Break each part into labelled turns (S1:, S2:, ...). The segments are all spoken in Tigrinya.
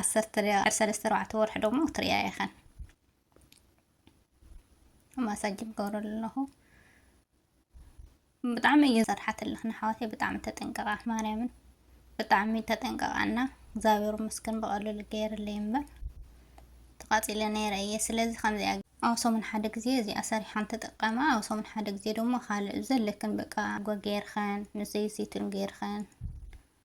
S1: ዓሰርተ ድሕሪ ሰለስተ ኣርባዕተ ወርሒ ደሞ ክትሪኣ ኢኸን ማሳጅ ይገብረሉ ኣለኹ ብጣዕሚ እየ ዘርሓትልኽ ንሓዋተይ ብጣዕሚ ተጠንቀቓ ማርያምን ብጣዕሚ ተጠንቀቓና እግዚኣብሔር መስገን ብቐልሉ ገይርለይ እምበር ተቓፂለ ነይረ እየ ስለዚ ከምዚኣ ኣብ ሰሙን ሓደ ግዜ እዚኣ ሰሪሓን ተጠቀማ ኣብ ሰሙን ሓደ ግዜ ደሞ ካልእ ዘለክን በቃ ጎ ገይርኸን ንዘይሲቱን ገይርኸን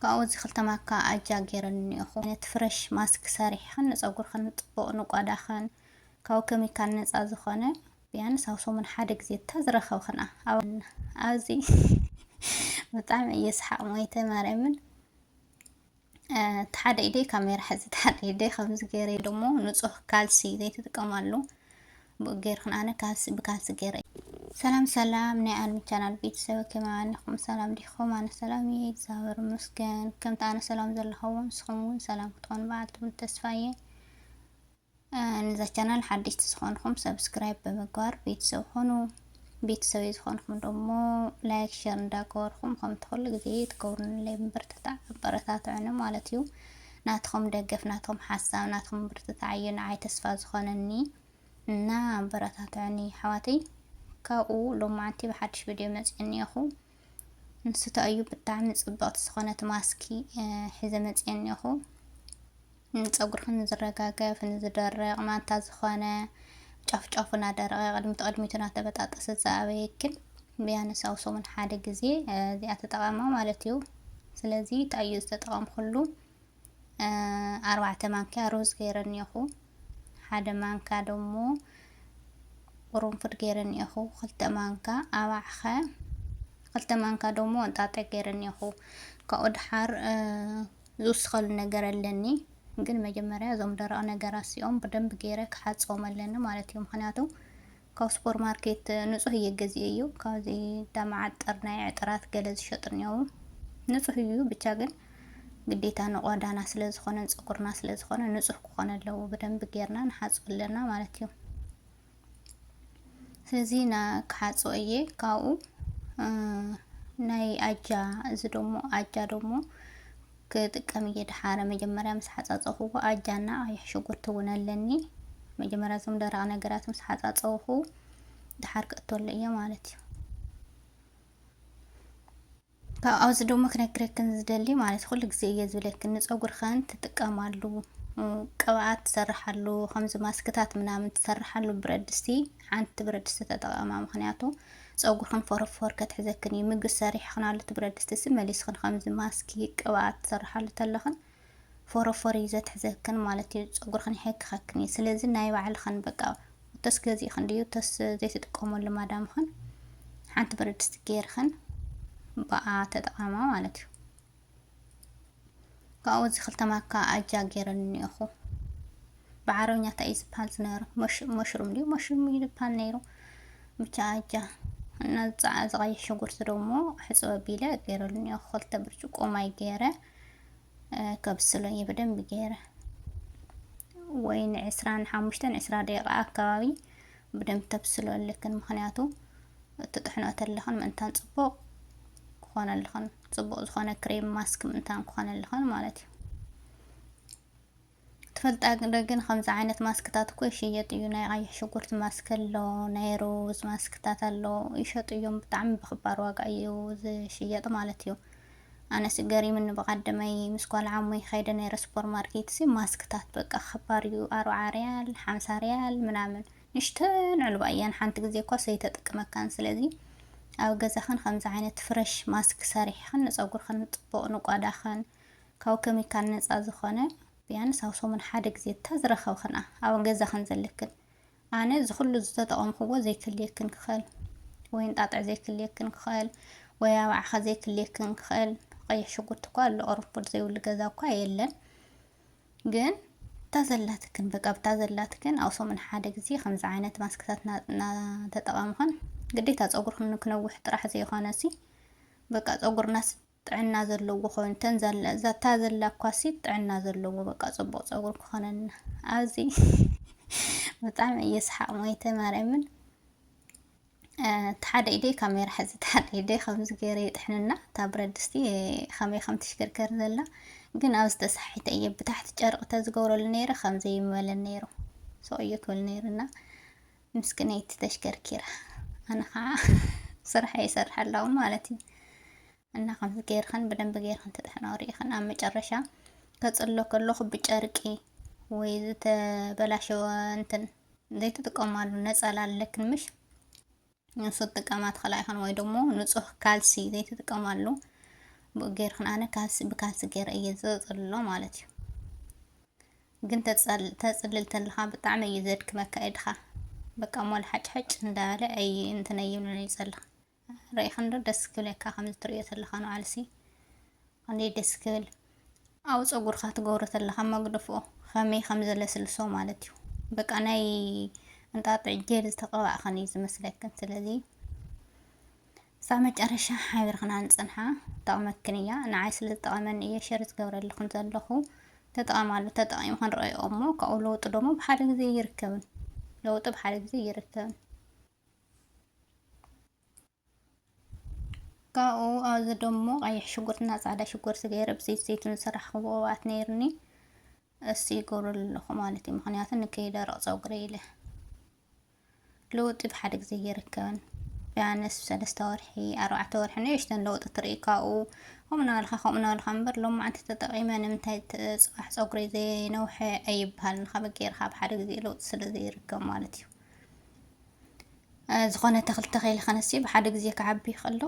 S1: ካብኡ እዚ ክልተ ማካ ኣጃ ገይረን እኒኦኹ። ዓይነት ፍረሽ ማስክ ሰሪሕኽን ንፀጉርኽን ፅቡቕ ንቆዳኽን ካብ ኬሚካል ነፃ ዝኾነ ቢያንስ ኣብ ሰሙን ሓደ ግዜ እታ ዝረኸብኽና ኣብዚ ብጣዕሚ እየ ሰሓቕ ሞይተ ማርያምን እቲ ሓደ ኢደይ ካሜራ ሕዚ እቲ ሓደ ኢደይ ከምዚ ገይረ ደሞ ንፁህ ካልሲ ዘይትጥቀማሉ ብኡ ገይርክን ኣነ ካልሲ ብካልሲ ገይረ ሰላም ሰላም ናይ ኣልሚ ቻናል ቤተሰብ ከመይ ሰላም ዲኹም? ኣነ ሰላም እየ እግዚኣብሔር ይመስገን። ከምቲ ኣነ ሰላም ዘለኹዎ ንስኹም እውን ሰላም ክትኾኑ በዓል ትብል ተስፋ እየ። ንዛ ቻናል ሓደሽቲ ዝኾንኹም ሰብስክራይብ ብምግባር ቤተሰብ ኾኑ ቤተሰበይ ዝኾንኹም ደሞ ላይክ ሸር እንዳገበርኹም ከምቲ ኩሉ ግዜ ትገብሩንለይ ምብርትታዕ ኣበረታትዑኒ ማለት እዩ ናትኹም ደገፍ ናትኹም ሓሳብ ናትኹም ምብርትታዕ እዩ ንዓይ ተስፋ ዝኾነኒ እና ኣበረታትዑኒ ኣሕዋተይ ካብኡ ሎማዓንቲ ብሓድሽ ቪድዮ መፅእ እኒኦኹ ንስቶ እዩ ብጣዕሚ ፅብቕቲ ዝኾነት ማስኪ ሒዘ መፅእ እኒኦኹ ንፀጉርኺ ንዝረጋገፍ ንዝደርቕ ማንታ ዝኾነ ጫፍ ጫፉ እናደረቐ ቅድሚት ቅድሚቱ እናተበጣጠሰ ዝኣበየክን ቢያንስ ኣብ ሰሙን ሓደ ግዜ እዚኣ ተጠቐማ ማለት እዩ። ስለዚ እንታይ እዩ ዝተጠቐምኩሉ ኣርባዕተ ማንኪያ ሩዝ ገይረ እኒኹ ሓደ ማንካ ደሞ ቁሩንፉድ ገይረ እኒኹ ክልተ ማንካ ኣባዕኸ ክልተ ማንካ ደሞ እንጣጠ ገይረ እኒኹ ካብኡ ድሓር ዝውስኸሉ ነገር ኣለኒ ግን መጀመርያ እዞም ደረቕ ነገራት እዚኦም ብደንብ ገይረ ክሓፅቦም ኣለኒ ማለት እዩ ምክንያቱ ካብ ሱፐር ማርኬት ንፁህ እየ ገዚኤ እዩ ካብዚ ዳመዓጠር ናይ ዕጥራት ገለ ዝሸጡ እኒው ንፁህ እዩ ብቻ ግን ግዴታ ንቆዳና ስለ ዝኾነን ፀጉርና ስለ ዝኾነ ንፁህ ክኾነ ኣለዎ ብደንብ ጌርና ንሓፅብ ኣለና ማለት እዩ እዚ ና ክሓጾ እየ ካብኡ ናይ ኣጃ እዚ ደሞ ኣጃ ደሞ ክጥቀም እየ ድሓረ መጀመርያ ምስ ሓጻጸኹዎ ኣጃና ቀይሕ ሽጉርቲ እውን ኣለኒ መጀመርያ እዞም ደረቕ ነገራት ምስ ሓጻጸኹ ድሓር ክእተሉ እየ ማለት እዩ ካብ ኣብዚ ደሞ ክነግረክን ዝደሊ ማለት ኩሉ ግዜ እየ ዝብለክን ንፀጉርኸን ትጥቀማሉ ቅብኣት ትሰርሓሉ ከምዚ ማስክታት ምናምን ትሰርሓሉ ብረድስቲ ሓንቲ ብረድስቲ ተጠቐማ ምክንያቱ ፀጉርክን ፎረፎር ከትሕዘክን እዩ ምግቢ ሰሪሕክናሉ እቲ ብረድስቲ ሲ መሊስክን ከምዚ ማስኪ ቅብኣት ትሰርሓሉ ተለኽን ፎሮፎር እዩ ዘትሕዘክን ማለት እዩ ፀጉርክን ይሕክከክን እዩ ስለዚ ናይ ባዕልክን በቃ እቶስ ገዚእክን ድዩ እቶስ ዘይትጥቀመሉ ማዳምክን ሓንቲ ብረድስቲ ገይርክን ብኣ ተጠቐማ ማለት እዩ ካብኡ እዚ ክልተ ማካ ኣጃ ገይረን እኒኦኹ ብዓረብኛ እንታይ እዩ ዝበሃል ዝነበረ መሽሩም ድዩ መሽሩም እዩ ዝበሃል ነይሩ ብቻ ኣጃ እና ዝፀዓ ዝቐይሕ ሽጉርቲ ደሞ ሕፅበ ቢለ ገይረሉ እኒኦ ክልተ ብርጭቆ ማይ ገይረ ከብስሎ እየ ብደንቢ ገይረ ወይ ንዕስራን ሓሙሽተን ዕስራ ደቂቃ ኣካባቢ ብደንብ ተብስሎ ኣለክን ምክንያቱ እቲ ጥሕኖ ተለኽን ምእንታን ፅቡቅ ክኾነልኽን ፅቡቅ ዝኾነ ክሬም ማስክ ምእንታን ክኾነልኽን ማለት እዩ ትፈልጣ ዶ ግን ከምዚ ዓይነት ማስክታት እኮ ይሽየጥ እዩ ናይ ቐይሕ ሽጉርቲ ማስክ ኣሎ ናይ ሩዝ ማስክታት ኣሎ ይሸጡ እዮም ብጣዕሚ ብክባር ዋጋ እዩ ዝሽየጥ ማለት እዩ ኣነስ ገሪምኒ ብቀደመይ ምስ ጓል ዓሙይ ከይደ ነይረ ሱፐር ማርኬት ሲ ማስክታት በቃ ክባር እዩ ኣርብዓ ሪያል ሓምሳ ሪያል ምናምን ንሽተን ዕልባ እየን ሓንቲ ግዜ እኳ ሰይተጥቅመካን ስለዚ ኣብ ገዛኽን ከምዚ ዓይነት ፍረሽ ማስክ ሰሪሕኽን ንፀጉርኽን ፅቡቅ ንቋዳኽን ካብ ከሚካል ነጻ ዝኾነ ብያንስ ኣብ ሰሙን ሓደ ግዜ እታ ዝረኸብክንኣ ኣብ ገዛኽን ዘለክን ኣነ እዚ ኩሉ ዝተጠቐምክዎ ዘይክልየክን ክኸእል ወይ እንጣጥዕ ዘይክልየክን ክኸእል ወይ ኣባዕኸ ዘይክልየክን ክኸእል ቀይሕ ሽጉርቲ እኳ ኣሎ ቅርንፉድ ዘይብሉ ገዛ እኳ የለን ግን እታ ዘላትክን በቃ ብታ ዘላትክን ኣብ ሰሙን ሓደ ግዜ ከምዚ ዓይነት ማስክታት እናተጠቐምኽን ግዴታ ፀጉርክን ክነውሕ ጥራሕ ዘይኮነ ሲ በቃ ፀጉርናስ ጥዕና ዘለዎ ኮይኑ ተን ዘለ ዛታ ዘላ ኳሲት ጥዕና ዘለዎ በቃ ጽቡቅ ጸጉር ክኾነና ኣብዚ ብጣዕሚ እየ ስሓቅ ሞይተ ማርያምን ተሓደ ኢደይ ካሜራ ሕዚ ተሓደ ኢደይ ከምዚ ገይረ ይጥሕንና እታ ብረት ድስቲ ከመይ ከም ትሽከርከር ዘላ ግን ኣብ ዝተሳሒተ እየ ብታሕቲ ጨርቂ ተዝገብረሉ ነይረ ከምዘይ ይመለን ነይሩ ሰው እየ ክብል ነይርና ምስክነይቲ ተሽከርኪራ ኣነ ከዓ ስራሕ ይሰርሕ ኣለኹ ማለት እዩ እና ከምዚ ገይርክን ብደንብ ገይርክን ተጥሕናው ርኢክን ኣብ መጨረሻ ከፅሎ ከለኹ ብጨርቂ ወይ ዝተበላሸወ እንትን ዘይትጥቀማሉ ነፀላ ኣለክን ምሽ ንሱ ትጥቀማ ትኽእላ ይኹን ወይ ደግሞ ንፁህ ካልሲ ዘይትጥቀማሉ ብኡ ገይርክን ኣነ ካልሲ ብካልሲ ገይረ እየ ዘፅሎ ማለት እዩ ግን ተፅልል ተለኻ ብጣዕሚ እዩ ዘድክመካ ኢድኻ በቃ ሞል ሓጭሐጭ እንዳበለ ኣይ እንትን ኣይብልን እዩ ፀልኽ ርኢኻ እንዶ ደስ ክብለካ ከምዚ ትሪኦ ተለኻ ንባዕልሲ ክንደይ ደስ ክብል ኣብ ፀጉርካ ትገብሮ ተለኻ መግደፍኦ ከመይ ከም ዘለስልሶ ማለት እዩ በቃ ናይ እንጣጥዕ ጀል ዝተቐባእኽን እዩ ዝመስለክን ስለዚ ክሳብ መጨረሻ ሓቢርክና ንፅንሓ ትጠቅመክን እያ ንዓይ ስለ ዝጠቀመኒ እየ ሸር ዝገብረልክን ዘለኩ ተጠቀማሉ ተጠቂሙ ክንረኦ እሞ ካብኡ ለውጢ ደሞ ብሓደ ግዜ እይርከብን ለውጢ ብሓደ ግዜ እይርከብን ካብኡ ኣብዚ ደሞ ቀይሕ ሽጉርትና ፃዕዳ ሽጉርቲ ገይረ ብዘይት ዘይቱን ዝስራሕ ክብኦባት ነይርኒ እሱ ይገብረሉ ኣለኹ ማለት እዩ። ምክንያቱ ንከይደረቕ ፀጉሪ ኢለ ለውጢ ብሓደ ግዜ ኣይርከብን። ቢያንስ ሰለስተ ወርሒ ኣርባዕተ ወርሒ ንእሽተን ለውጢ ትርኢ ካብኡ ከምኡ እናበልካ ከምኡ እናበልካ እምበር ሎማዕንቲ ተጠቒመ ንምንታይ ፅባሕ ፀጉረይ ዘይነውሐ ኣይበሃልን ከመይ ጌርካ ብሓደ ግዜ ለውጢ ስለ ዘይርከብ ማለት እዩ ዝኾነ ተኽሊ ተኺል ከነሲ ብሓደ ግዜ ክዓቢ ይኽእሎ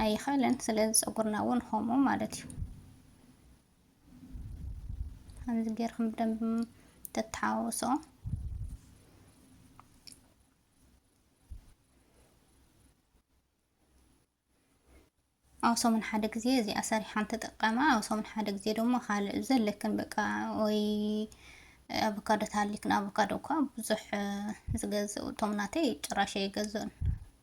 S1: ኣይኽእልን ስለዚ ፀጉርና እውን ከምኡ ማለት እዩ ከምዚ ጌርኩም ብደንብ ተተሓዋወሶ ኣብ ሰሙን ሓደ ግዜ እዚኣ ሰሪሓን ተጠቀማ ኣብ ሰሙን ሓደ ግዜ ደሞ ካልእ ዘለክን በቃ ወይ ኣቮካዶ ተሃሊክን ኣቮካዶ እኳ ብዙሕ ዝገዝእ እቶም ናተይ ጭራሽ ኣይገዝኡን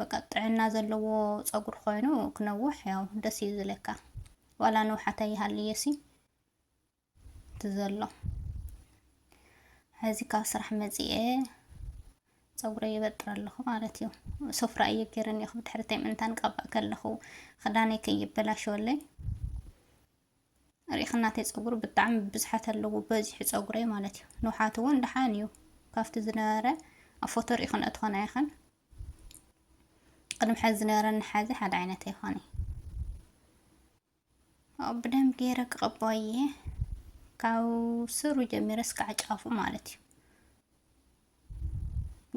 S1: በቃ ጥዕና ዘለዎ ፀጉሪ ኮይኑ ክነውሕ ያው ደስ እዩ ዝለካ ዋላ ንውሓት ኣይሃልየሲ ትዘሎ ሕዚ ካብ ስራሕ መፂኤ ፀጉረ ይበጥር ኣለኹ ማለት እዩ ሶፍራ እየ ገይረ እኒኹ ብድሕርተይ ምእንታን ቀባእ ከለኹ ክዳነይ ከይበላሸወለይ ሪኢኽ እናተይ ፀጉሪ ብጣዕሚ ብዝሓት ኣለዎ በዚሑ ፀጉረይ ማለት እዩ ንውሓት እውን ደሓን እዩ ካብቲ ዝነበረ ኣብ ፎቶ ሪኢኹን እትኾና ኢኸን ቅድሚ ሕዚ ዝነበረኒ ሓዚ ሓደ ዓይነት ይኾነ ኣብኡ ብደንብ ገይረ ክቐባኦ እየ ካብ ስሩ ጀሚረ እስካዕ ጫፉ ማለት እዩ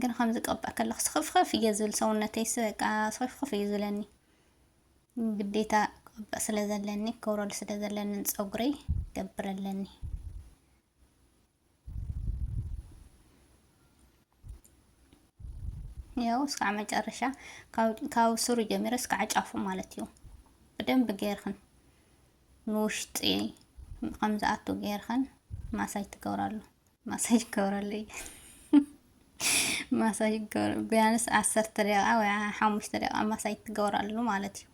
S1: ግን ከምዚ ቀባእ ከለኩ ስኽፍኽፍ እየ ዝብል ሰውነተይ በቃ ስኽፍኽፍ እዩ ዝብለኒ ግዴታ ቀባእ ስለ ዘለኒ ክብረሉ ስለ ዘለኒ ፀጉረይ ገብር ኣለኒ ያው እስካዕ መጨረሻ ካብ ስሩ ጀሚረ እስካዕ ጫፉ ማለት እዩ ብደንብ ገይርክን ንውሽጢ ከምዝኣቱ ገይርክን ማሳጅ ትገብራሉ ማሳጅ ይገብረሉ ማሳጅ ይገብረ ቢያንስ ዓሰርተ ደቂቃ ወይ ሓሙሽተ ደቂቃ ማሳጅ ትገብራሉ ማለት እዩ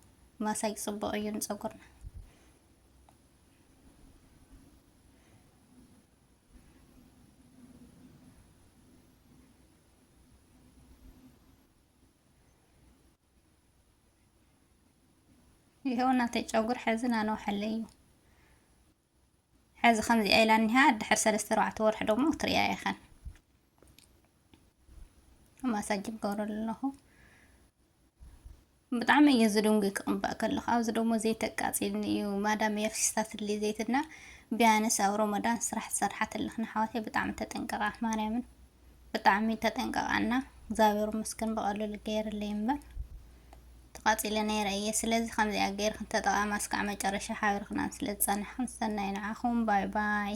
S1: ማሳጅ ፅቡቅ እዩ ንፀጉርና ይኸው እናተይ ጨጉር ሕዚ ናነውሐለይ እዩ ሕዚ ከምዚኣ ኢላ እኒሃ ድሕር ሰለስተ ኣርባዕተ ወርሒ ደግሞ ክትሪያ ኢኸን ማሳጅ ይገብረሉ ኣለኹ ብጣዕሚ እየ ዝድንጉ ክቕባእ ከለኹ ኣብዚ ደሞ ዘይት ኣቃፂልኒ እዩ ማዳም እያ ፊስታትሊ ዘይትና ቢያንስ ኣብ ሮመዳን ስራሕ ዝሰርሓት ኣለኽና ሓዋተይ ብጣዕሚ ተጠንቀቓ ማርያምን ብጣዕሚ ተጠንቀቓና እግዚኣብሔር መስገን ብቐልሉ ገይርለይ እምበር ተቓፂለ ነይረ እየ ስለዚ ከምዚኣ ገይርክን ተጠቓማ እስካዕ መጨረሻ ሓቢርክናን ስለ ዝፀናሕክን ሰናይ ንዓኹም ባይ ባይ